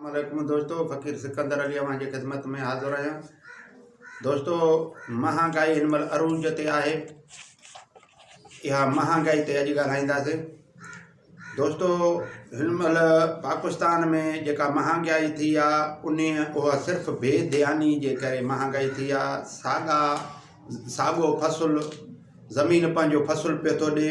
عليڪم دوستو فقير سڪندر علي اوهان جي خدمت ۾ حاضر آهيان دوستو مهانگائي هن مهل عروج تي آهي اها مهانگائي تي اڄ ڳالهائينداسين دوستو هن مهل پاڪستان ۾ جيڪا مهانگائي ٿي آهي ان اها صرف بي ڌياني جي ڪري مهانگائي ٿي آهي ساڳا ساڳو فصل زمين پنهنجو فصل پيو ٿو ڏي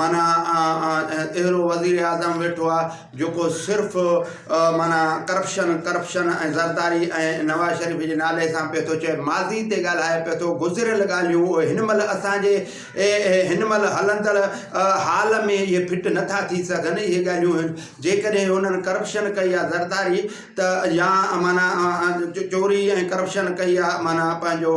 معنيٰ اهڙو وزيراعظم ويٺو آ جيڪو صرف معنيٰ ڪرپشن ڪرپشن ۽ زرداري ۽ نواز شريف جي نالي سان پئي ٿو چئي ماضي تي ڳالهائي پئي ٿو گذريل ڳالهيون اهي هن مهل اسان جي هن مهل هلندڙ حال ۾ اهي فٽ نٿا ٿي سگهن اهي ڳالهيون جيڪڏهن هنن ڪرپشن ڪئي آ زرداري ته يا معنيٰ چوري ۽ ڪرپشن ڪئي آ معنيٰ پنهنجو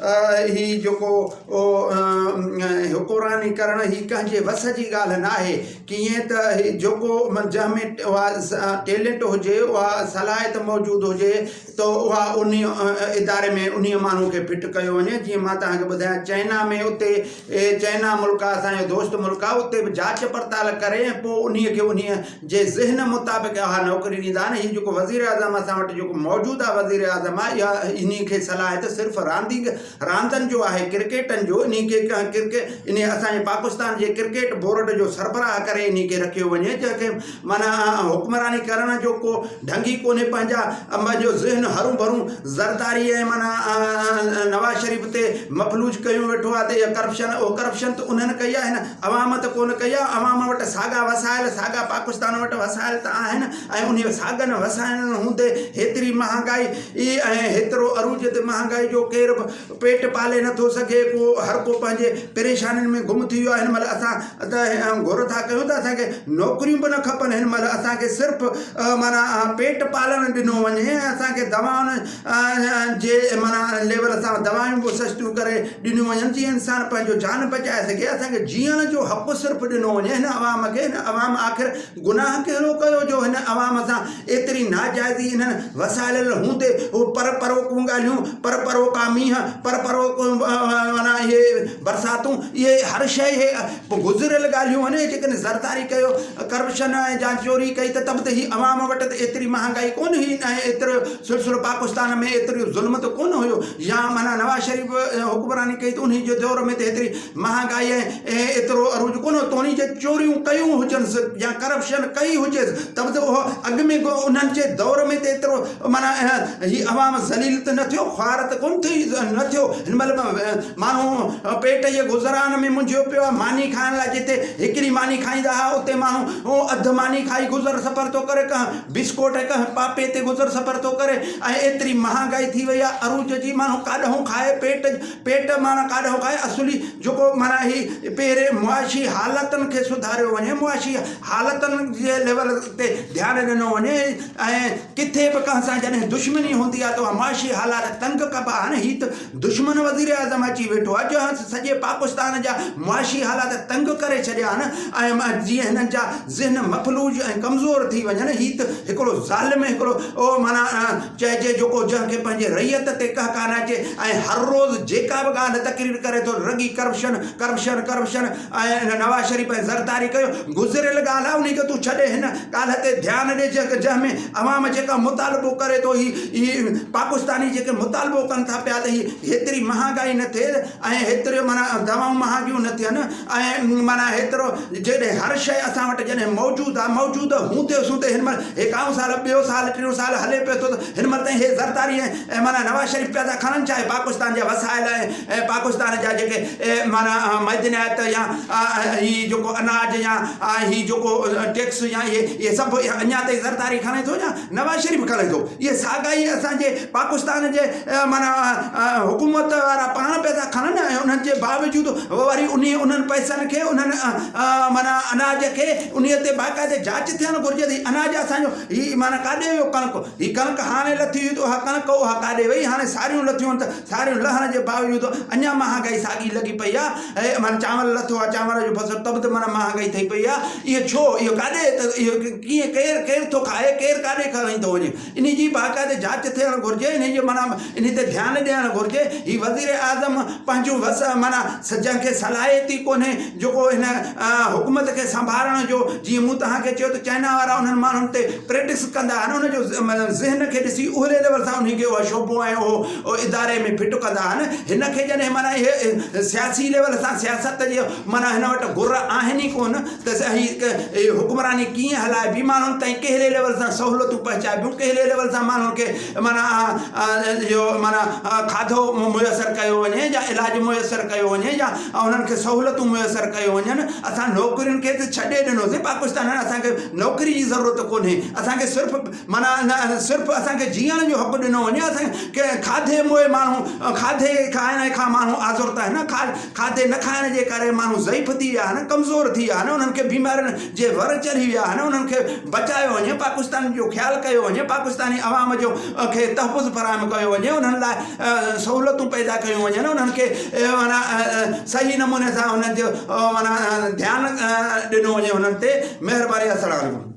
هي جيڪو حڪمراني ڪرڻ هي ڪنهن جي وس جي ڳالهه ناهي ڪيئن ته هي جيڪو جنهن ۾ اها ٽيلنٽ هجي اها صلاحيت موجود هجي ته اها ان اداري ۾ ان ماڻهو کي فٽ ڪيو وڃي جيئن مان تهان کي ٻڌايان چائنا ۾ اتي چائنا ملڪ آهي اسانجو دوست ملڪ آهي اتي به جاچ پڙتال ڪري ۽ پوء ان کي ان جي ذهن مطابق اها نوڪري ڏيندا ۽ هي جيڪو وزيراعظم اسان وٽ جيڪو موجوده وزيراعظم آهي اها انهي کي صلاحيت صرف راندينگ راندن جو آهي ڪرڪيٽن جو انهي کي ڪنهن ڪرڪي انهي اسان جي پاڪستان جي ڪرڪيٽ بورڊ جو سربراهه ڪري انهي کي رکيو وڃي جنهن کي معنيٰ حڪمراني ڪرڻ جو ڪو ڍنگ ئي ڪونهي پنهنجا پنهنجو ذهن هرون ڀرون زرداري ۽ معنيٰ نواز شريف تي مفلوج ڪيون ويٺو آهي ته اها ڪرپشن اها ڪرپشن ته انهن ڪئي آهي نه عوام ته ڪونه ڪئي آهي، عوام وٽ ساڳا وسائل، ساڳا پاڪستان وٽ وسائل ته آهن ۽ انهن ساڳن وسائلن هوندي هيتري مهانگائي ۽ هيترو عروج تي مهانگائي جو ڪير به پيٽ پالي نٿو سگهي ڪو هر ڪو پنهنجي پريشانين ۾ گم ٿي ويو آهي هن مهل اسان ته گهر ٿا ڪيون ته اسان کي نوڪريون به نه کپن هن مهل اسان کي صرف معنيٰ پيٽ پالڻ ڏنو وڃي ۽ اسان کي دوائن جي معنيٰ ان ليول سان دوائون به سستيون ڪري ڏنيون وڃن جيئن انسان پنهنجو جان بچائي سگهي اسان کي جيئڻ جو حق صرف ڏنو وڃي هن عوام کي هن عوام آخر گناهه ڪهڙو ڪيو جو هن عوام سان ايتري ناجائزي انهن وسائلل هوندي هو پر پروقون ڳالهيون پر پروقا مينهن پر پروق معنيٰ اهي برساتون اهي هر شيء اهي گذريل ڳالهيون آهن جيڪڏهن زرداري ڪيو ڪرپشن جا چوري ڪئي ته ته به هي عوام وٽ ته ايتري مهانگائي ڪونه هئي نه ايترو سرسرو پاڪستان ۾ ايتريو ظلم ته ڪونه هيو يا معنيٰ نواز شريف حڪمراني ڪئي ته انهي جي دور ۾ ته ايتري مهانگائي ۽ ايترو عروج ڪونه هو توڻي جي چوريون ڪيون هجنس يا ڪرپشن ڪئي هجيس ته به ته اهو اڳ ۾ به انهن جي دور ۾ ته ايترو معنيٰ هي عوام ذليل ته نه ٿيو خوار ته ڪونه ٿي نه ٿيو هن مهل ماڻهو پيٽ جي گذران ۾ منجهيو پيو آهي ماني کائڻ لاء جتي هڪڙي ماني کائيندا هئا اتي ماڻهو اڌ ماني کائي گذر سفر ٿو ڪري ڪنهن بسڪوٽ هڪ هنپاپي تي گذر سفر ٿو ڪري ۽ ايتري مهانگائي ٿي وئي آهي عروج جي ماڻهو ڪاڏهون کائي پيٽ پيٽ معنيٰ ڪاڏهون کائي اصولي جيڪو معنيٰ هي پهرين معاشي حالتن کي سڌاريو وڃي معاشي حالتن جي ليول تي ڌيان ڏنو وڃي ۽ ڪٿي به ڪنهن سان جڏهن دشمني هوندي آهي ته اها معاشي حالات تنگ ڪبا آهن هي ته دشمن وزيراعظم اچي ويٺو اڄ هنس سڄي پاڪستان جا معاشي حالات تنگ ڪري ڇڏيا آهن اهم آهي جيئن هنن جا ذهن مفلوج ۽ ڪمزور ٿي وڃن هي ته هڪڙو ظالم هڪڙو اهو معنيٰ چئجي جوڪو جنهن کي پنهنجي رعيت تي ڪهڪا نه اچي ۽ هر روز جيڪا به ڳالهه تقرير ڪري ٿو رڳي corruption corruption corruption ۽ Nawaz Sharif ۽ Zardari ڪيو گذريل ڳالهه آهي انهي کي تون ڇڏي هن ڳالهه تي ڌيان ڏي جنهن ۾ عوام جيڪا مطالبو ڪري ٿو هي هي پاڪستاني جيڪي مطالبو ڪن ٿا پيا ته هي هيتري مهانگائي نه ٿئي ۽ هيتريون معنيٰ دوائون مهانگيون نه ٿين ۽ معنيٰ هيترو جيڏي هر شيء اسان وٽ جڏهن موجود آهي موجود هوندي سوندي هن مهل هي ڪائون سال ٻيو سال ٽيون سال هلي پيو ٿو ته هن مهل تائين هي زرداري ۽ ۽ معنيٰ نواز شريف پيادا کڻڻ چاهي پاڪستان جا وسائل ۽ پاڪستان جا جيڪي معنيٰ معدنيات يا هي جيڪو اناج يا هي جيڪو ٽيڪس يا اهي اهي سڀ اڃا تائين زرداري کڻي ٿو يا نواز شريف کڻي ٿو اهي ساڳا ئي اسان جي پاڪستان جي معنيٰ حڪومت وارا پاڻ پيا ٿا کڻن ۽ انهن جي باوجود وري انهي انهن پئسن کي انهن معنيٰ اناج کي انهي تي باقاعدي جاچ ٿيڻ گهرجي ته هي اناج اسان جو هي معنيٰ ڪاڏي ويو ڪڻڪ هي ڪڻڪ هاڻي لٿي هئي ته اها ڪڻڪ اها ڪاڏي وئي؟ هاڻي ساريون لٿيون ته ساريون لهڻ جي باوجود اڃا مهانگائي ساڳي لڳي پئي آهي. اهي معنيٰ چانور لٿو آهي، چانور جو فصل ته به ته معنيٰ مهانگائي ٿئي پئي آهي. اهو ڇو؟ اهو ڪاڏي ته اهو ڪيئن ڪير ڪير ٿو کائي، ڪير ڪاڏي کڻي ٿو وڃي؟ انهي جي باقاعدي جاچ ٿيڻ گهرجي. انهي جي معنيٰ انهي تي ڌيان ڏيڻ گهرجي. هي وزيراعظم پنهنجون وس معنيٰ سجهن کي صلاحيت ئي ڪونهي جيڪو هن حڪومت کي سنڀارڻ جو جيئن مون توهان کي چيو ته چائنا وارا انهن ماڻهن تي پريٽڪس ڪندا آهن ان جو ذهن کي ڏسي اهلي ليول سان انهي کي اهو شعبو ۽ اهو اداري ۾ فٽ ڪندا آهن هن کي جڏهن معنيٰ اهي سياسي ليول سان سياست جي معنيٰ هن وٽ گر آهن ئي ڪونه ته هي حڪمراني ڪيئن هلائبي ماڻهن تائين ڪهڙي ليول سان سهولتون پهچائبيون ڪهڙي ليول سان ماڻهن کي معنيٰ جو معنيٰ کاڌو ميسر ڪيو وڃي يا علاج ميسر ڪيو وڃي يا انهن کي سهولتون ميسر ڪيو وڃن اسان نوڪرين کي ته ڇڏي ڏنوسين پاڪستان هاڻي اسان کي نوڪري جي ضرورت ڪونهي اسان کي صرف معنيٰ صرف اسان کي جيئڻ جو حق ڏنو وڃي اسان کي کاڌي موئي ماڻهو کاڌي کائڻ کان ماڻهو آزرتا آهن کاڌ کاڌي نه کائڻ جي ڪري ماڻهو ضعيف ٿي ويا آهن ڪمزور ٿي ويا آهن انهن کي بيمارين جي ور چڙهي ويا آهن انهن کي بچايو وڃي پاڪستان جو خيال ڪيو وڃي پاڪستاني عوام جو کي تحفظ فراهم ڪيو وڃي انهن لاء سهولتون پيدا ڪيون وڃن انهن کي معنيٰ صحيح نموني سان انهن جو معنيٰ ڌيان ڏنو وڃي انهن تي مهرباني السلام عليڪم